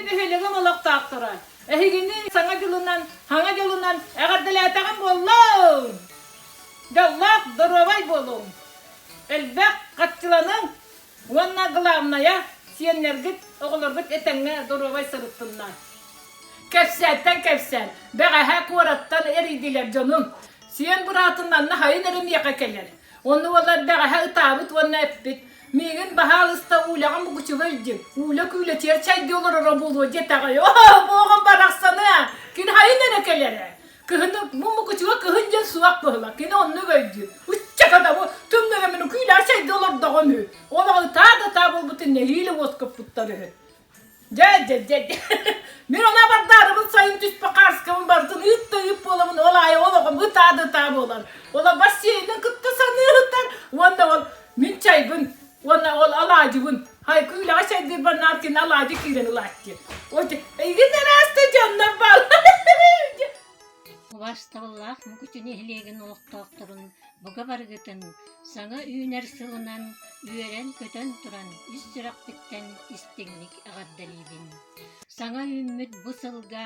нэһилиэгим олохтоохторо, эһигини саҥа дьылынан, хаҥа дьылынан эҕэрдэлээтэҕим буоллун! Дьоллоох, доруобай буолуҥ! Элбэх хаччыланыҥ! Уонна главное, сиэннэргит, оҕолоргут этэҥҥэ доруобай сырыттыннар. Кэпсээнтэн кэпсээн, бэҕэһээ куораттан эрийдилэр дьонум. Сиэн быраатыннан нахайын эрэ миэхэ кэлэр. Онно уоллар бэҕэһээ ытаабыт уонна эппит, Миигин баһаалыста Ууляҕа мугучуга илдьиҥ, ууля-күүлэтигэр чайдыы олороро буолуо диэтэҕи. Оо, буоҕум барахсаны! Кир хайын эрэ кэлэрэ. Кыһыны бу мукучуга кыһын дьэ суох быһыла. Кини оннук өйдүүр. Ычча кадабы түмнөрөмүн үкүүлэр сайда олордоҕум үһү. Олоҕу таа да таа буолбутун нэһиилэ уоскуппуттар үһү. Дьэ, дьэ, дьэ, дьэ. Мин она бардаарыбын сайын түспө хаарскабын бардын ыытта ыып буоламын ол аайы олоҕум ытаа да таа буолар. Ола бас сиэйинэн кытта саныы ыһытар уонна ол мин чайбын Уонна ол алаадьыбын Айкы үлэҕэ сайдыырбар Наркин алаадьы киирэн ылаат диэн. Ити эйигин арааста дьоннор бааллар. Убасталлаах Мукучу нэһилиэгин олохтоохторун бука барыгытын саҥа үүнэр сылынан үөрэн-көтөн туран ис сүрэхпиттэн истиҥник эҕэрдэлиибин. Саҥа үүммүт бу сылга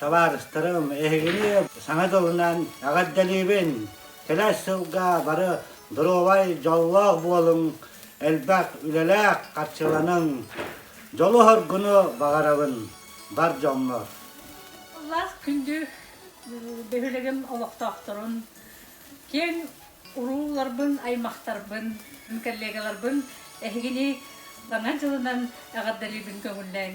Табаарыстарым, эһигини саҥа дылынан эҕэрдэлиибин! Кэлэр сылга бары доруобай, дьоллоох буолуҥ, элбэх үлэлээх харчыланыҥ. Дьолу-хоргуну баҕарабын, бар дьоҥҥор. Ыллаах күндү бөһүөлэгим олохтоохторун, киэҥ урууларбын-аймахтарбын, коллегаларбын эһигини Саҥа дьылынан эҕэрдэлиибин көҥүллээҥ!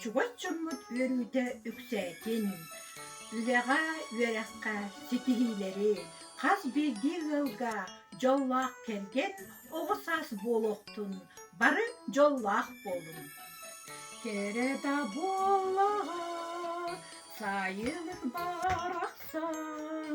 Чугас дьоммут үөрүүтэ үксээтин, үлэҕэ, үөрэххэ ситиһиилэри, хас биирдии ыалга дьоллоох кэргэн, оҕо саас буолуохтун, бары дьоллоох буолуҥ! Кэрэ-да буоллаҕа, сайын ырбаҕар ахсан,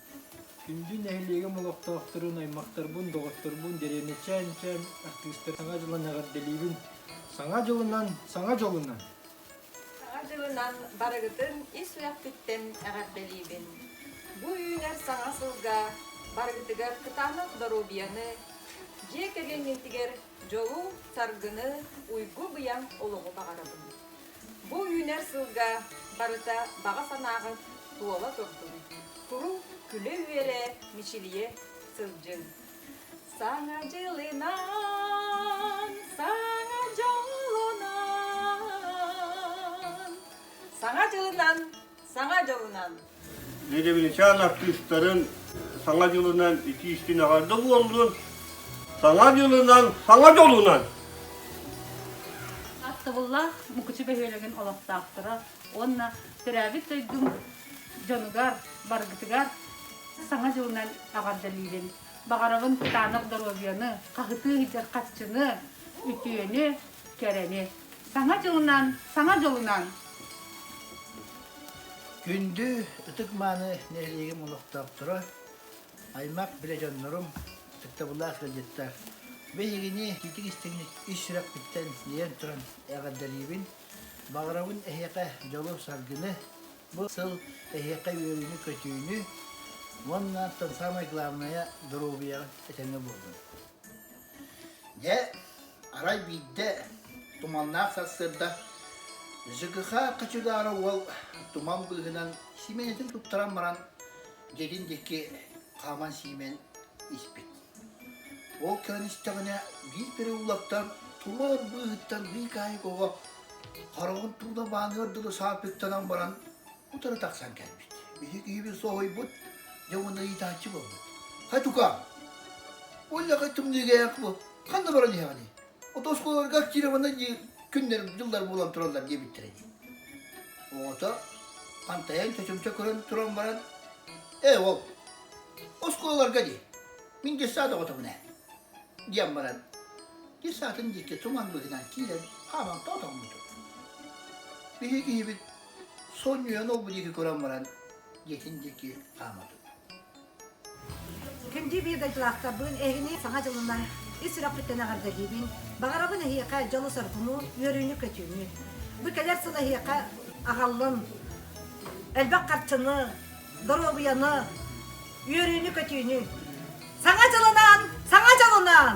Күндү нэһилиэгим олохтоохторун, аймахтарбын, доҕотторбун дэриэбинэ чээн-чээн артыыстарын саҥа дьылын эҕэрдэлиибин. Саҥа дьылынан, саҥа дьылынан! Саҥа дьылынан барыгытын ис сүрэхпиттэн эҕэрдэлиибин. Бу үүнэр саҥа сылга барыгытыгар кытаанах доруобуйаны, дьиэ кэргэҥҥитигэр дьолу, таргыны, уйгу-быйаҥ олоҕу баҕарабын. Бу үүнэр сылга барыта баҕа санааҕыт туола турдун. Куру күлэ-үөрэ, мичилийэ сылдьын. Саҥа дьылынан, саҥа дьолунан, саҥа дьылынан Саҥа дьылынан! Лебедичаан артыыстарын Саҥа дьылынан ити истин аҕар да буоллун! Саҥа дьылынан, саҥа дьолунан! Аттыбыллаах Мукучу бөһүөлэгин олохтоохторо уонна төрөөбүт дойдум дьонугар, баргытыгар Саҥа дьылынан эҕэрдэлиибин! Баҕарабын кытаанах доруобуйаны, хаһытыы иһитэр харчыны, үтүөнү, кэрэни! Саҥа дьылынан, саҥа дьолунан! Күндү, ытык-мааны нэһилиэгим олохтоохторо, аймах билэ дьоннорум, ытыктабыллаах ыалдьыттар, биһигини итик-истиҥник ис сүрэхпиттэн ньыйан туран эҕэрдэлиибин, баҕарабын эһиэхэ дьолу-саргыны, бу сыл эһиэхэ үөрүүнү-көтүүнү уонна, саамай главное, доруобуйаҕын этэҥҥэ буоллун! Дьэ, арай биирдэ туманнаах сарсыарда Жыгыха хочудаара уол туман быыһынан симэнэтин туттаран баран дьиэтин диэки хааман сиимэн испит. Ол көрөн истэҕинэ биир переулаттан туор быыһыттан быыкаайык оҕо хараҕын тууна бааныар дылы саапыктанан баран Утары тахсан кэлбит. Биһи киһибит соһуйбут, дьэ уонна ыйытааччы буолбут. Хатука, Оллаха түмнүгээх бу. Ханна баран иһэҕиний? Отосколарга актированна күннэр, дьыллар буолан тураллар диэбиттэрэ дии. Оҕото хантайан чочумча көрөн туран баран, «Ээ уол, оскуолаларга дии, мин дьыссаат оҕотомун ээ» диэн баран, дьыссаатын диэки туман быһынан киирэн хааман тоотоммутун. Биһи киһибит Сонньуйан ол бу диэки көрөн баран дьиэтин диэки хаамабыт. Күндү видеодьулаахтарбын эһини саҥа дьылынан ис сүрэхпиттэн эҕэрдэлиибин. Баҕарабын эһиэхэ дьолу соргуну, үөрүүнү-көтүүнү. Бу кэлэр сыл эһиэхэ аҕаллын элбэх харчыны, доруобуйаны, үөрүүнү-көтүүнү. Саҥа дьылынан, саҥа дьылынан!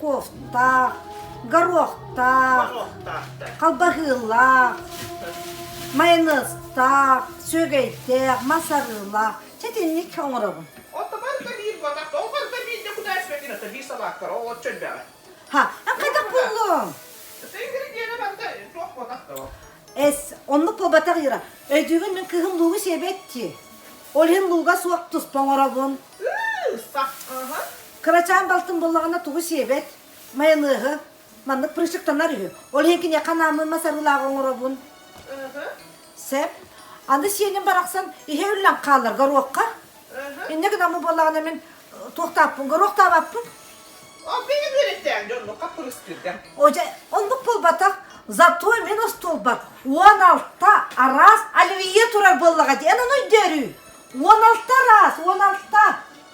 Куохтаах, Горохтаах, Халбаһыылаах, Майаныыстаах, Сүөгэйдээх, Мас-арыылаах. Чэ итинник оҥоробун. Оттомор да биир батах, оҕор да биир да кудаас бэтинэтэ биир салааттара оҕот чөлбөҕө. ха хайдах буллуҥ? Сэнгиридиэнэ барда туох батах да Эс, оннук буолбатах Ира. Өйдүүгүн мин кыһын луугу сиэбэт дии. Ол иһин лууга суох туспа оҥоробун. Сах, Кырачаан балтым буоллаҕына тугу сиэбэт, майонеһы, маннык прыщыктанар үһү. Ол иһин киниэхэ анааммын мас арыылааҕы оҥоробун. Сэп. Аны сиэним барахсан иһэ үллэн хаалар горуокка. Иннэ гынаммын буоллаҕына мин туохтааппын, горуоктаабаппын. Оппеня бүөлэттээн дьоннук хаппырыстыырган. Оже, оннук буолбатах. Зато мин остуолбар он алта раз оливье турар буоллаҕа диэн ону өйдөөрүү. Он алта раз, он алта.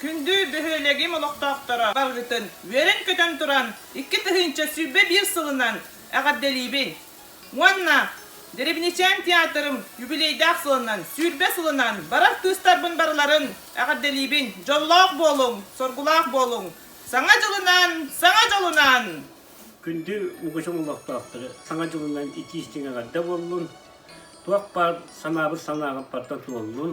Күндү бөһүөлэгим олохтоохторо, барыгытын үөрэн-көтөн туран, икки тыһыынча сүүрбэ биир сылынан эҕэрдэлиибин! Уонна Деревничээн театрым юбилейдаах сылынан сүүрбэ сылынан барар кыыстарбын барыларын эҕэрдэлиибин! Дьоллоох буолуҥ, соргулаах буолуҥ! Саҥа дьылынан, саҥа дьылынан! Күндү угучум олохтоохторо, саҥа дьылынан итии-истиҥ эҕэрдэ буоллун! Туох баар санаабын санааҕыппартан туоллун!